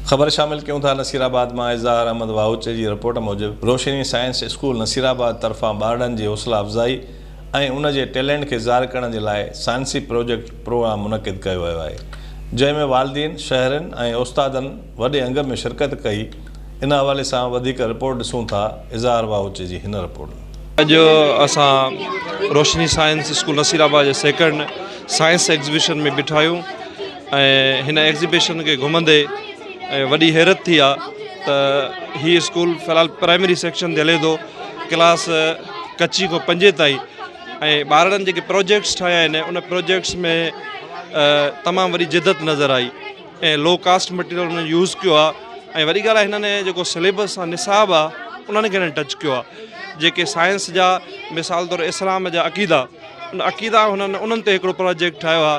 خبر شامل ڪيون ٿا نصير آباد مان اظهار احمد واهوچي جي رپورٽ موجب Roshni science school Nasirabad طرفان ٻارڙن جي حوصلا افزائي ۽ ان جي ٽيلينٽ کي ظاهر ڪرڻ جي لاء سائنسي پروجيڪٽ پروگرام منعقد ڪيو ويو آهي جنهن ۾ والدين شهرين ۽ استادن وڏي انگ ۾ شرڪت ڪئي ان حوالي سان وڌيڪ رپورٽ ڏسون ٿا اظهار واهوچي جي هن رپورٽ. اڄ اسان Roshni science school Nasirabad جي سيڪنڊ سائنس ايگزيبيشن ۾ بيٺا آهيون ۽ هن ايگزيبيشن کي گهمندي وڏي حيرت ٿي آ ته هي اسڪول في الحال پرائمري سيڪشن تي هلي ٿو ڪلاس ڪچي کان پنجين تائين ۽ ٻارڙن جيڪي پروجيڪٽس ٺاهيا آهن ان پروجيڪٽس ۾ تمام وڏي جدت نظر آئي ۽ لو ڪاسٽ مٽيريل انهن يوز ڪيو آ ۽ وڏي ڳالهه هنن جيڪو سليبس آ نصاب آ انهن کي هنن ٽچ ڪيو آ جيڪي سائنس جا مثال طور اسلام جا عقيدا ان عقيدا هنن انهن تي هڪڙو پروجيڪٽ ٺاهيو آ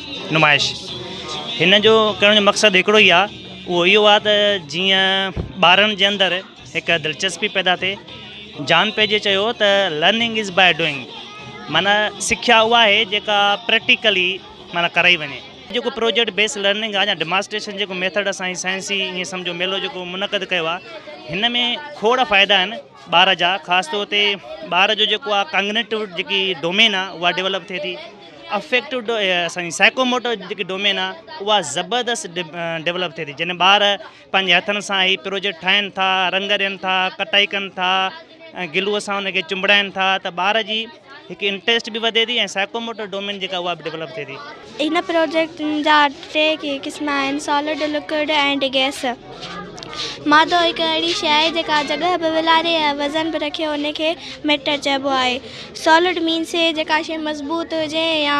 نمائش هن جو ڪرڻ جو مقصد هڪڙو ئي آ اهو اهو آ ته جيئن ٻارن جي اندر هڪ دلچسپي پيدا ٿئي جان پيجي چيو ته لرننگ از بائي ڊوئنگ معنيٰ سکيا اها آهي جيڪا پريڪٽيڪلي معنيٰ ڪرائي وڃي جيڪو پروجيڪٽ بيس لرننگ آ يا ڊماسٽريشن جيڪو ميٿڊ اسان سائنسي ائين سمجهو ميلو جيڪو منعقد ڪيو آ هن ۾ کوڙ فائدا آهن ٻار جا خاص طور تي ٻار جو جيڪو آ ڪانگنيٽو جيڪي ڊومين آ اها ڊيولپ ٿئي ٿي افيڪٽو اسان جي سائيڪوموٽو جيڪي ڊومين آ اها زبردست ڊيولپ ٿئي ٿي جنهن ٻار پنهنجي هٿن سان هي پروجيڪٽ ٺاهن ٿا رنگ ڏين ٿا ڪٽائي ڪن ٿا ۽ گلوء سان ان کي چنبڙائن ٿا ته ٻار جي هڪ انٽريسٽ به وڌي ٿي ۽ سائڪوموٽر ڊومين جيڪا اها به ڊيولپ ٿئي ٿي. هن پروجيڪٽ جا ٽي قسم آهن، سالڊ، لڪوڊ ۽ گئس. مادو هڪ اهڙي شيء آهي جيڪا جڳهه به ولاري ۽ وزن به رکي ان کي ميٽر چئبو آهي. سالڊ مينس جيڪا شيء مضبوط هجي يا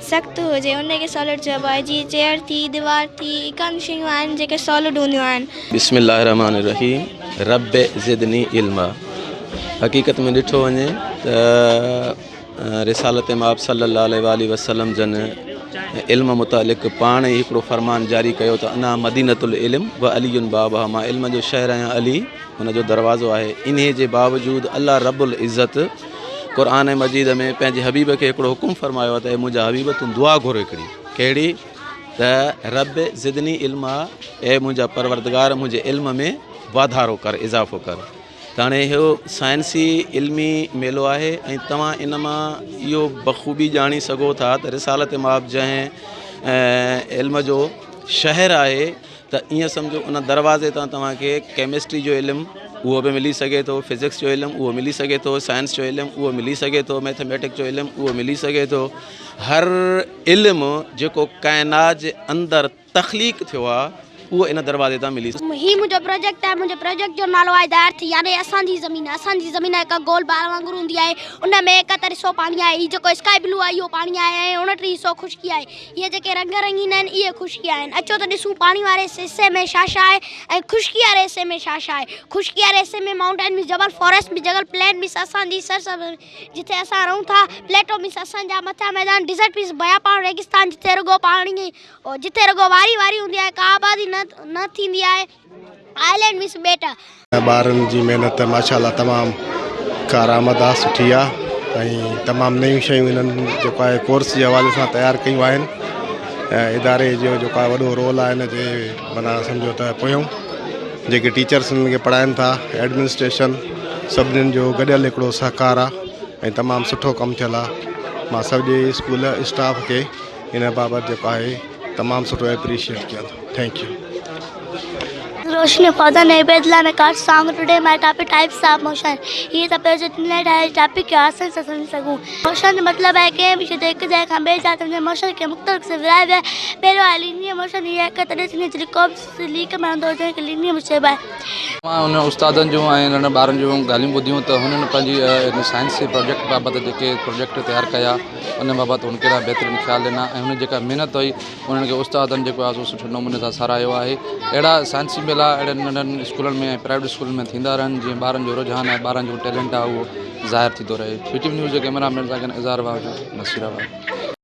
سخت هجي ان کي سالڊ چئبو آهي جيئن چيئر ٿي ديوار ٿي اهي ڪن شيون آهن جيڪي سالڊ هونديون آهن. بسم الله الرحمٰن الرحيم رب زدني علما حقيقت ۾ ڏٺو وڃي ته رسالت مآب صلي الله عليه وآله وسلم جن علم متعلق پاڻ ئي هڪڙو فرمان جاري ڪيو ته انا مدينة العلم و علي بابها مان علم جو شهر آهيان علي ان جو دروازو آهي انهي جي باوجود الله رب العزت قرآن مجيد ۾ پنهنجي حبيب کي هڪڙو حڪم فرمايو ته اي منهنجا حبيب تون دعا گهر هڪڙي ڪهڙي ته رب زدني علم اي منهنجا پروردگار منهنجي علم ۾ واڌارو ڪر اضافو ڪر ته هاڻي اهو سائنسي علمي ميلو آهي ۽ توهان ان مان اهو بخوبي ڄاڻي سگهو ٿا ته رسالت ماب جنهن علم جو شهر آهي ته ائين سمجهو ان دروازي تان توهان کي ڪيمسٽري جو علم اهو به ملي سگهي ٿو فزڪس جو علم اهو ملي سگهي ٿو سائنس جو علم اهو ملي سگهي ٿو ميٿميٽڪ جو علم اهو ملي سگهي ٿو هر علم جيڪو ڪائنات جي اندر تخليق ٿيو آهي اهو ان دروازي تان ملي سگهي هي منهنجو پروجيڪٽ آهي منهنجي پروجيڪٽ جو نالو آهي دا ارٿ يعني اسان جي زمين اسان جي زمين هڪ گول بال وانگر هوندي آهي ان ۾ ايڪ ترسو پاڻي آهي هي جيڪو اسڪائي بلو آهي اهو پاڻي آهي ۽ اڻٽيهه حصو خشڪي آهي اهي جيڪي رنگ رنگين آهن اهي خشڪي آهن. اچو ته ڏسون پاڻي واري حصي ۾ ڇا ڇا آهي ۽ خشڪي واري حصي ۾ ڇا ڇا آهي. خشڪي واري حصي ۾ مائونٽين مينس جبل، فاريسٽ مينس جهنگل، پلين مينس اسان جي سرزمين جتي اسان رهون ٿا، پليٽو مينس اسان جا مٿيان ميدان، ڊيزرٽ مينس بيابان، ريگستان جتي رڳو پاڻي جتي رڳو واري واري هوندي آهي ڪا آبادي نه ٿيندي آهي. آئلينڊ مس ٻيٽا. ٻارن جي محنت ماشاءالله تمام ڪارآمد آ سٺي آ ۽ تمام نيون شيون انهن جيڪو آهي ڪورس جي حوالي سان تيار ڪيون آهن ۽ اداري جو جيڪو آهي وڏو رول آ ان جي معنيٰ سمجهو ته پويون جيڪي ٽيچرس انهن کي پڙهائن ٿا ايڊمنسٽريشن سڀنين جو گڏيل هڪڙو سهڪار آ ۽ تمام سٺو ڪم ٿيل آ مان سڄي اسڪول اسٽاف کي ان بابت جيڪو آهي تمام سٺو ايپريشيئيٽ ڪيان ٿو ٿينڪ يو. روشني فوزا نئي بيت لا مي ڪاٽ سانگ today my topic types of motion هي ته پيو جو تنهن لاء ٺاهي ٽاپي کي آساني سان سمجهي سگهون موشن جو مطلب آهي ڪنهن به شي تي هڪ جاء کان ٻي جاء تائين جي موشن کي مختلف قسم ورهائي ويا پهريون آهي لينيئر موشن هي هڪ تڏهن ٿيندي جڏهن ڪو به سليڪ مهندو هجڻ هڪ علمي مصيب آهي. مان انهن استادن جون ۽ ننڍن ٻارن جون ڳالهيون ٻڌيون ته هنن پنهنجي ان سائنسي پراجيڪٽ بابت جيڪي پراجيڪٽ تيار ڪيا ان بابت هن ڪهڙا بهترين خيال ڏنا ۽ هنن جيڪا محنت هئي انهن کي استادن جيڪو آهي سو سٺي نموني سان ساراهيو آهي اهڙا سائنسي ميلا اهڙن ننڍن اسڪولن ۾ ۽ پرائيويٽ اسڪولن ۾ ٿيندا رهن جيئن ٻارن جو رجحان ۽ ٻارن جو ٽيلنٽ آهي اهو ظاهر ٿيندو رهي پي ٽي وي نيوز جي ڪئميرا مين سان گڏ اظهار واهجو نصير آباد.